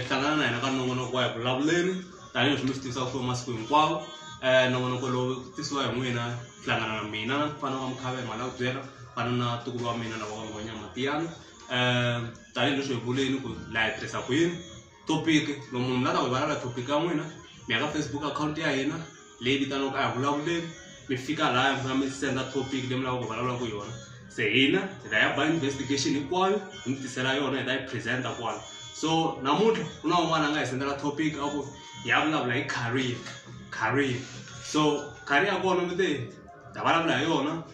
hlangana na hina ka nongonoko wa hi vulavuleni tanihileswi mi swi tivisa ku masiku hinkwawo um nongonoko lowu tisiwa hi n'wina hlangana na mina fana wa mukhavela mali ya ku byela fana na tukulu wa mina lava va ngonyama tiyana um tanihi leswi hi vuleni ku laha hi tirhisa kwini topic lo munhu la ta ku hi valala topic ya n'wina mi ya ka facebook account ya hina leyi vitaniwaka a hi vulavuleni mi fika laha mi fika mi senda topic leyi mi lavaka ku vulavulaka yona se hina hi ta ya ba investigation hinkwayo hi mi tisela yona hi ta yi presenta kwala so namuntlha ku na un'wana a nga hi sendela topic a ku hi ya vulavula hi career career so career ya kona mi te hi ta vulavula hi yona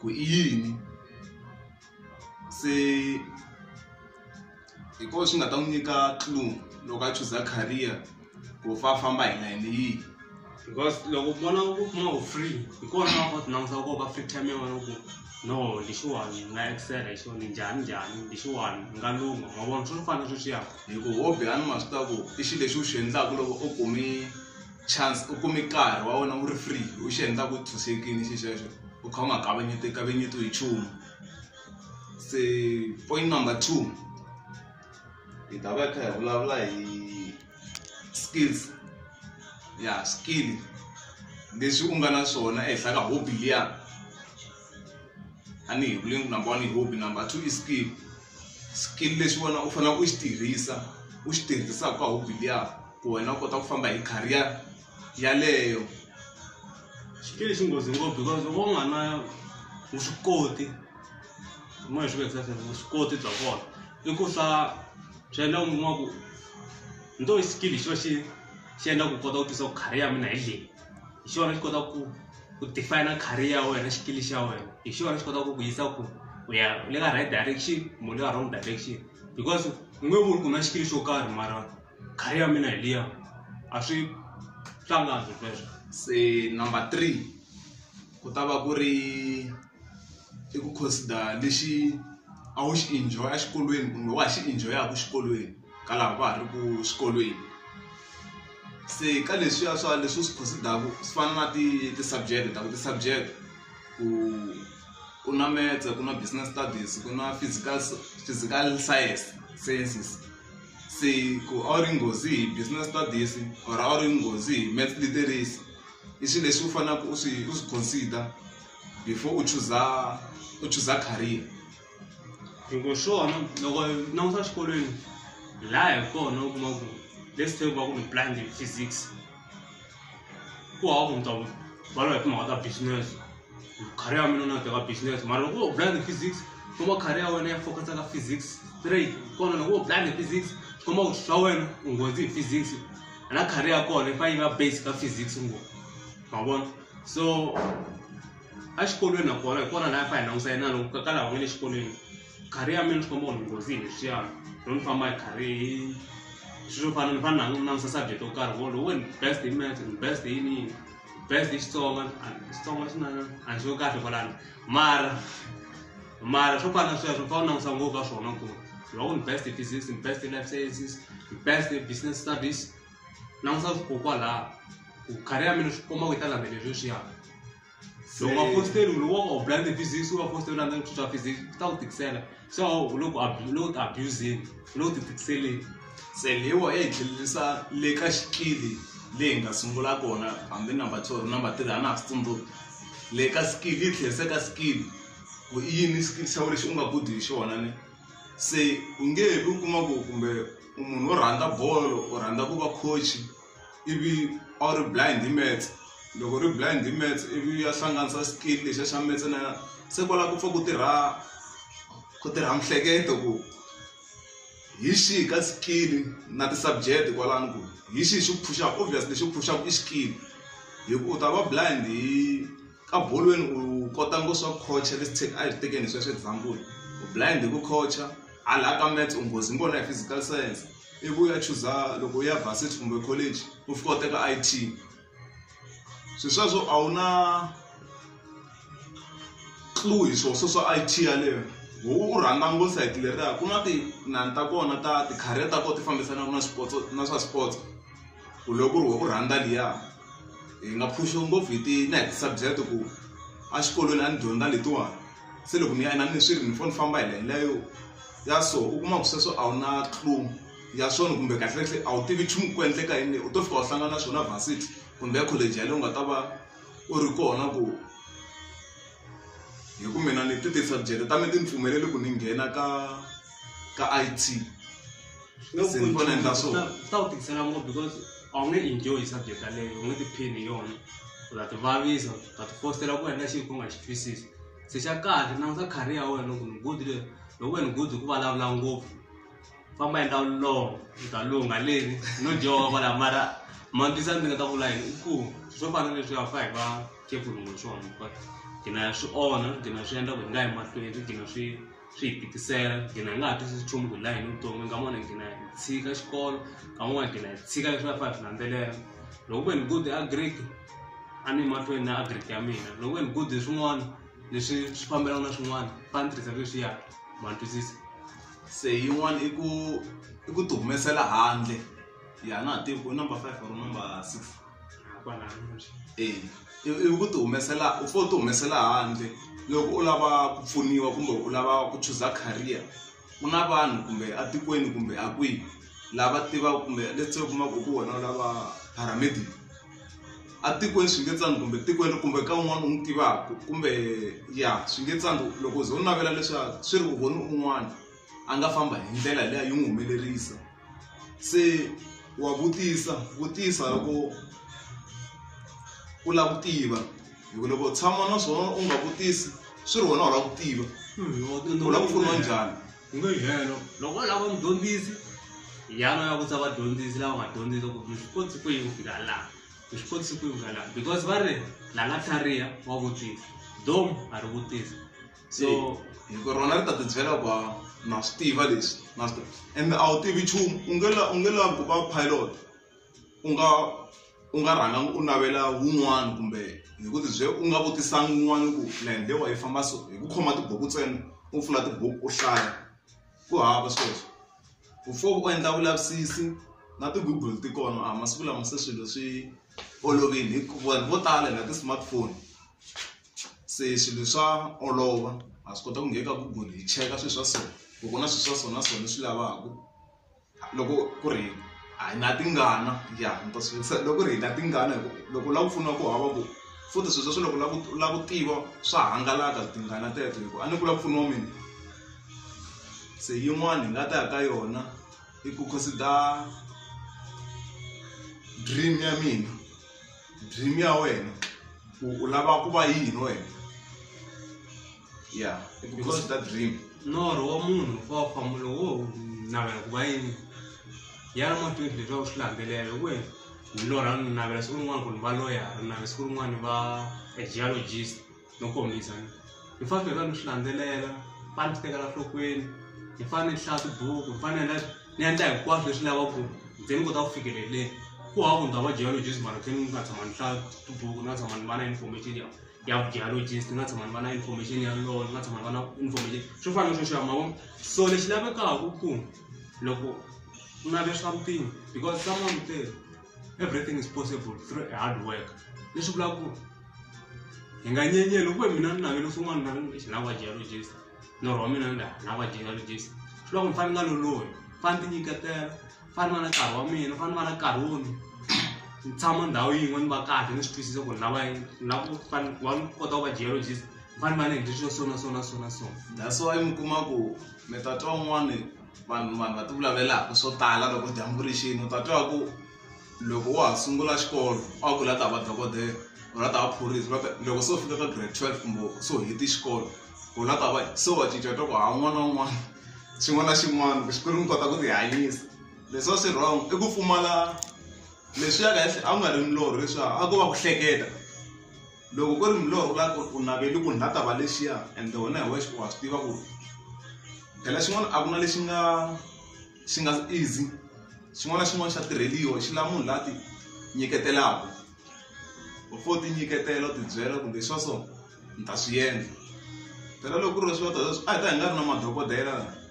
ku i yini se hi koho swi nga ta n'wi nyika clue loko a chuza career ku fa famba hi layeni yihi because loko u vona u kuma u free hi kona va kota langusa ku va free time yin'wana ku no lexiwani ni nga excela hi xona njhani njhani lexiwani ni nga lungha ma vona swi fana sweswiyani hi ku hobby a ni ma swi ta ku i xilo lexi u xi endlaka loko u kume chance u kume nkarhi wa wena wu ri free u xi endla ku tshunxekile xi xexo u kha u nga kavanyeti kavanyetiwi hi nchumu se point number two hi ta va hi kha hi vulavula hi skills ya skill leswi u nga na swona ehenhla ka hobby liya. a ni hi vule ku number one hi hobby number two i skill skill lexi wena u faneleke u xi tirhisa u xi tirhisaka ka hobby liya ku wena u kota ku famba hi career yaleyo xikili xi nghozi ngopfu because loko u nga na vuswikoti moya swi vekisa leswaku vuswikoti bya kona i ku swa swi endla u kuma ku nto i xikili xi va xi xi endla ku kota ku tisa ku career ya mina hi leyi hi xona xi kotaka ku ku define career ya wena xikili xa wena hi xona xi kotaka ku ku yisa ku u ya le ka right direction kumbe le ka wrong direction because u nge vuli ku na xikili xo karhi mara career ya mina hi liya a swi hlangani sweswo se number three ku ta va ku ri. i ku consider lexi a wu xi enjoy exikolweni kumbe wa ha xi enjoy-aku xikolweni ka lava va ha ri ku xikolweni se ka leswiya swa leswi u swi consider-ku swi fana na ti ti-subject ta ku ti-subject ku ku na metse ku na business studies ku na physical physical science sciences se ku a wu ri nghozi hi business studies or a wu ri nghozi hi maths literacy i swi leswi u fanaku u swi u swi consider before u chuza u chuza career loko swona loko langusa xikolweni laha hi kona u kuma ku let's take va ku ni planned physics ku hava ku mutava va lava hi timhaka ta business career ya mina na teka business mara loko u planned physics kuma career ya wena ya focus ka physics straight kona loko u planned physics kuma ku swa wena u nghozi hi physics na career ya kona yi fanele yi va base ka physics ngopfu ma vona. so exikolweni nakona hi kona laha fa hi langusa yena loko ka kala wena le xikolweni khari ya mina swi komba ku nghozi hi leswiya no ni famba hi khari hi swilo fana ni fana ni langusa subject yo karhi wo lowu best hi math best hi yini best hi xitsonga xitsonga xi na a ni xo kahle kwalano mara mara swo fana sweswo fa u langusa ngopfu ka swona ku lowu ni best hi physics ni best hi life sciences ni best hi business studies na n'wi swa swi ko kwalaha ku khari ya mina swi komba ku yi ta landzelela leswi swi yaka loko va fositeli u loko u blande physics u va fositeli landza ku swa physics u ta ku tikisela so u loko u loko ti abusini u loko ti tikiseleni se leyiwa yi hi tlhelerisa le ka xikili leyi hi nga sungula kona hambi number two or number three a na ha swi tsundzuki le ka skill yi tlherisa ka skill ku i yini skill xa wena lexi u nga good hi xona ni se u nge he vi u kuma ku kumbe u munhu wo rhandza bolo u rhandza ku va coach ivi a wu ri blind hi maths loko u ri blind hi maths ivi u ya hlanganisa skill lexiya xa maths na se kwala ku pfa ku tirha ku tirha miehleketo ku hi xihi ka skill na ti-subject kwalano ku hi xihi xi ku phuxaka obviously lexi ku phuxaka i skill hi ku u ta va blind hi. ka bolweni u kota ngo swa coacha this take a hi tekeni hi sweswo example u blind hi ku coacha hala ka maths u nghozi ngona hi physical science ivi u ya chuza loko u ya varsity kumbe college u fika u teka i t swi sweswo a wu na clue hi swo swo swa i t yaleyo ho u rhandza ngo sayiti leriya ku na tinani ta kona ta ti-career ta kona ti fambisanaka na swipotso na swa swipotso ku loko ku ri wa ku rhandza liya hi nga phuxiwa ngopfu hi ti na hi ti-subject ku a xikolweni a ni dyondza letiwani se loko ni ya na ni swi ri ni fane ni famba hi layeni leyo ya so u kuma ku sweswo a wu na clue ya swona kumbe kahlekahle a wu tivi nchumu ku endleka yini leyi u to fika u hlangana na swona varsity kumbe college yaleyo u nga ta va u ri kona ku hi ku mina ni ti ti-subject ta mina ti ni pfumeleli ku ni nghena ka ka I_T. Nga ku Since vona endla so. ta ta wu tikisela ngopfu because a wu nge enjoy subject yaleyo u nge tiphini hi yona u ta tivavisa u ta tifostela ku endla xilo ku nga xi twisisi se xa kahle langusa career ya wena ku ni good le loko wena good hi ku vulavula ngopfu famba endla vulongo u ta lungha leni no dyoka kwala mara mambisa ndzi nga ta vula yini i ku swo fana na leswi a fa hi va khefulu ngo swona but gina swi onha gina swi endla ku hi nga yi mahlweni gina swi swi hi tikisela gina hi nga ha twisisi nchumu ku hi la yini vutomi nga mona gina hi tshika xikolo ka n'wana gina hi tshika leswi va fa hi swi landzelela loko ku ve ni good agric a ni mahlweni na agric ya mina loko ku ve ni good hi swin'wana leswi swi fambelaka na swin'wana fa ni tirhisa leswiya ma ni twisisa se yin'wana i ku i ku ti humesela handle ya na ha tivi ku i number five or number six eya ivi ku ti humesela u fane u ti humesela handle loko u lava ku pfuniwa kumbe u lava ku chuza career ku na vanhu kumbe etikweni kumbe a kwihi lava tivaka kumbe let's say u kuma ku hi wena u lava paramedic etikweni swi nge tsandzi kumbe tikweni kumbe ka un'wana u n'wi tivaka kumbe ya swi nge tsandzi loko u ze u navela leswiya swi ri u vone un'wana a nga famba hi ndlela liya yi n'wi humelerisa. se wa vutisa vutisa hi ku u lava ku tiva hi ku loko u tshama na swona u nga vutisi swi ri wena u lava ku tiva hmm, u lava ku pfuniwa njhani u nge helo loko u lava mudyondzisi yana ya vutisa vadyondzisi lava nga dyondzisa ku mi swi kotsi ku yi ku fika laha mi swi kotsi ku yi ku fika laha because va ri la nga tlhariha wa vutisa dom a ri vutisa so hi ku rona ri ta ti byela ku na swi tiva leswi na swi ende a wu tivi nchumu u nge la u nge lavi ku va pilot u nga u nga rhangangi u navela wun'wana kumbe hi ku tibye u nga vutisangi wun'wana ku land lewa yi famba so hi ku khoma tibuku ntsena u pfula tibuku u hlaya ku hava sweswo ku fo u endla vulavisisi na ti-google ti kona a masiku lama se swilo swi olovile hi vanhu vo tala na ti-smartphone. se swilo swa olova ha swi kota ku nghena ka google hi cheka swilo swa so ku ku na swilo swa so na so leswi lavaka loko ku ri a hi na tingana ya ni ta swi vutisa loko ku ri hi na tingana hi ku loko u lava ku pfuniwa ku hava ku futhi swilo sweswo loko u lava ku u lava ku tiva swa hangalaka tingana teto hi ku a ni ku lava ku pfuniwa mina se yin'wani hi nga ta ya ka yona i ku consider dream ya mina dream ya wena ku u lava ku va yini wena ya because ta dream norho wa munhu wa famba lowo navela ku va yini ya ri matwini leswaku swi landzelela ku wena ni lorha ni navela siku rin'wana ku ni va loyara ni navela siku rin'wana ni va a geologist no kombisa hi fanele hi va ni swi landzelela fane ni swi tekela nhlokweni hi fanele ni hlaya tibuku hi fanele ni endla hinkwaswo leswi lavaku ze ni kota ku fikeleleni ku hava ku ndza va geologist mara khe ni nga tshama ni hlaya tibuku ni nga tshama ni va na information ya ya vugeologist ni nga tshama ni va na information ya law ni nga tshama ni va na information swo fana na sweswiya mavona so lexi lavekaku ku loko u nave swa mpimo because someone u tele. everything is possible through a hard work leswi vulaka ku hi nga nyenyeli kuve mina ni navele swin'wana na ri xi lava geologist norho wa mina ni lava geologist swi loko ni fane ni nga lolohi fane ti nyiketela fane va na nkarhi wa mina fane va na nkarhi wo ni ni tshama ndhawu yin'we ni va kahle ni swi twisisa ku ni lava yini ni lava ku fane wa ni kota ku va geologist ni fane va ni endle swilo sona sona sona sona that's why mi kuma ku mi ta twa un'wani vanhu vanhu va ti vulavulelaka swo tala loko dyambu ri xini u ta twa ku loko wa ha sungula xikolo a wu ku la ta va dokodela u la ta va phorisa va loko se u fika ka grade twelve kumbe se u heti xikolo u la ta va se wa cinca twa ku ha n'wana na un'wana xin'wana na xin'wana ku xikwembu mi kota ku ti hanyisa leswi a swi wrong i ku pfumala leswi ya kahle a ku nga ri milorho leswiya a ko va ku hleketa. loko ku ri milorho u lava ku u naveli ku ni la ta va lexiya ende wena hi wexe wa swi tiva ku phela xin'wana a ku na lexi nga xi nga easy xin'wana na xin'wana xa tirheliwa xi lava munhu la ti nyiketelaka u fo ti nyiketela u tibyela kumbe swa so ni ta swi endla phela loko ku ri swilo sweswo a hi ta hi nga ri na madokodela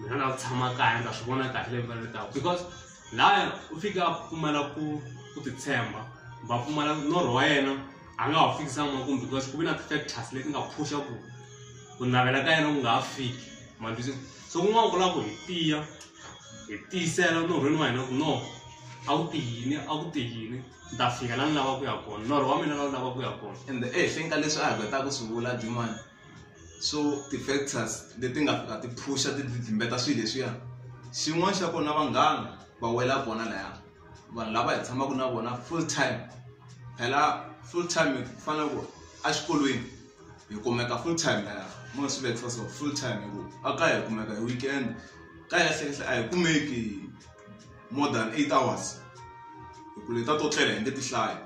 mina na tshama kaya ndza swi vona kahle leyi mfanele taku because laya u fika a pfumala ku ku titshemba va pfumala norho wa yena a nga ha fikisa makumu because ku ve na ti-factors leti nga phusha ku ku navela ka yena ku nga ha fiki mandwisi so kun'wana ku lava ku hi tiya hi tiyisela norhweni wa hina ku no a wu tiyini a wu tiyini ni ta fika la ni lava ku ya kona norho wa mina la wu lava ku ya kona ende ehenhleni ka leswi a hi kotaka ku swi vula dimani so ti-factors leti nga fika ti phusha ti timbeta swilo leswiya xin'wana xa kona vanghana va wela kona laya vanhu lava hi tshamaka na vona full time phela full time hi fanele ku exikolweni hi kumeka full time laya mo swi vekisa so full time hi ku a ka hi kumeka hi weekend ka hi kahlekahle a hi kumeki more than eight hours hi ku leta to tlela hi nge ti hlayi.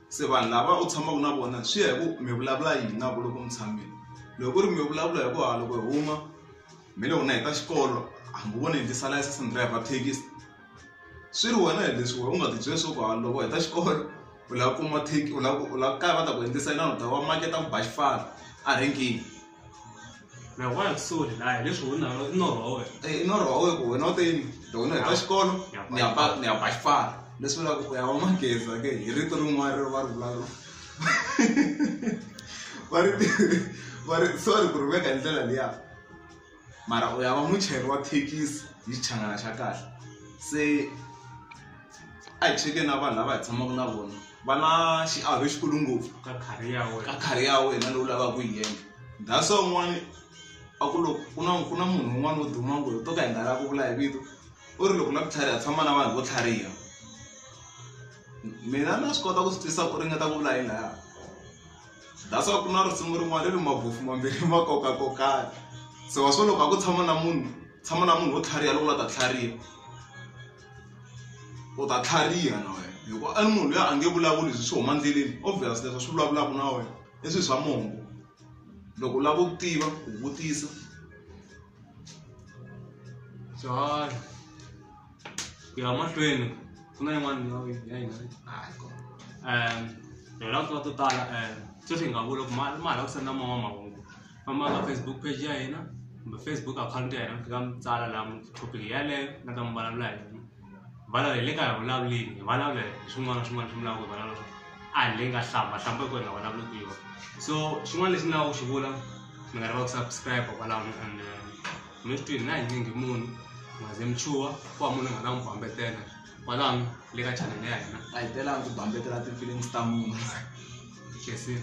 se vanhu lava u tshamaka na vona swi ya hi ku mi vulavula yini na vona loko mi tshamile loko ku ri mi vulavula hi ku hala loko hi huma mi le wena hi ta xikolo hambi vona hi tisa layisense ni driver thekisi swi ri wena hi leswi wena u nga ti byela swa ku hala loko hi ta xikolo u lava kuma u lava u lava ku kala va ta ku endlisa inana u ta va maketa ku ba xipfala a renkeni. na wa kusoni layo leswi u nalo i norho wa wena Eh, i norho wa wena ku wena u te yini loko ni heta xikolo Ni ya ba ni ya ba xipara. ni ya ba xipara leswi vulaka ku ya wa mageza ke hi rito rin'wana ri va ri vulavula va ri va ri sorry ku ri veka hi ndlela liya mara u ya va muchayeri wa thekisi hi xichangana xa kahle se a hi cheke na vanhu lava hi tshamaka na vona va na xiave xikulu ngopfu ka khari ya wena ka khari ya wena lowu lavaka ku yi endla that's why un'wana a ku loko ku na ku na munhu un'wana wo duma ngopfu to ka hi nga lava ku vula hi vito u ri loko lava ku tlhariha tshama na vanhu vo tlhariha mina na swi kota ku swi twisa ku ringeta ku vula yi laya that's why ku na risimu rin'wana ri ri mabofu mambirhi ma kokakokana se wa swo loko a ku tshama na munhu tshama na munhu wo tlhariha loku la ta tlhariha u ta tlhariha na wena hikuva i munhu loyi a nge vulavuli leswi swi huma endleleni obvious leswi swi vulavulaka na wena i swilo swa mongo loko u lava ku tiva u vutisa swihanyo ku ya mahlweni ku na yin'wana ndhawu ya hina um hi lava ku tiva to tala um sweswi hi nga vula ku ma ma ha lava ku senda moya wa mahungu famba ka Facebook page ya hina kumbe Facebook akhawunti ya hina mi fika mi tsala laha mi topic yaleyo mi nga ta mi vulavula hi yona vulavula hi le ka hi vulavulini hi vulavula hi swin'wana na swin'wana swi vulaka hi vulavula swo a hi leyi nga hlamba hlamba hi ku hi nga vulavuli ku yona so xin'wana lexi ni lava ku xi vula mi nga lava ku subscribe kwalaho and eh, mi swi twini na hi nyingi munhu mi nga ze mi chuha ku va munhu a nga ta n'wi bambetela kwalano le ka chanele ya hina a hi telanga ku bambetela ti-feelings ta munhu khensile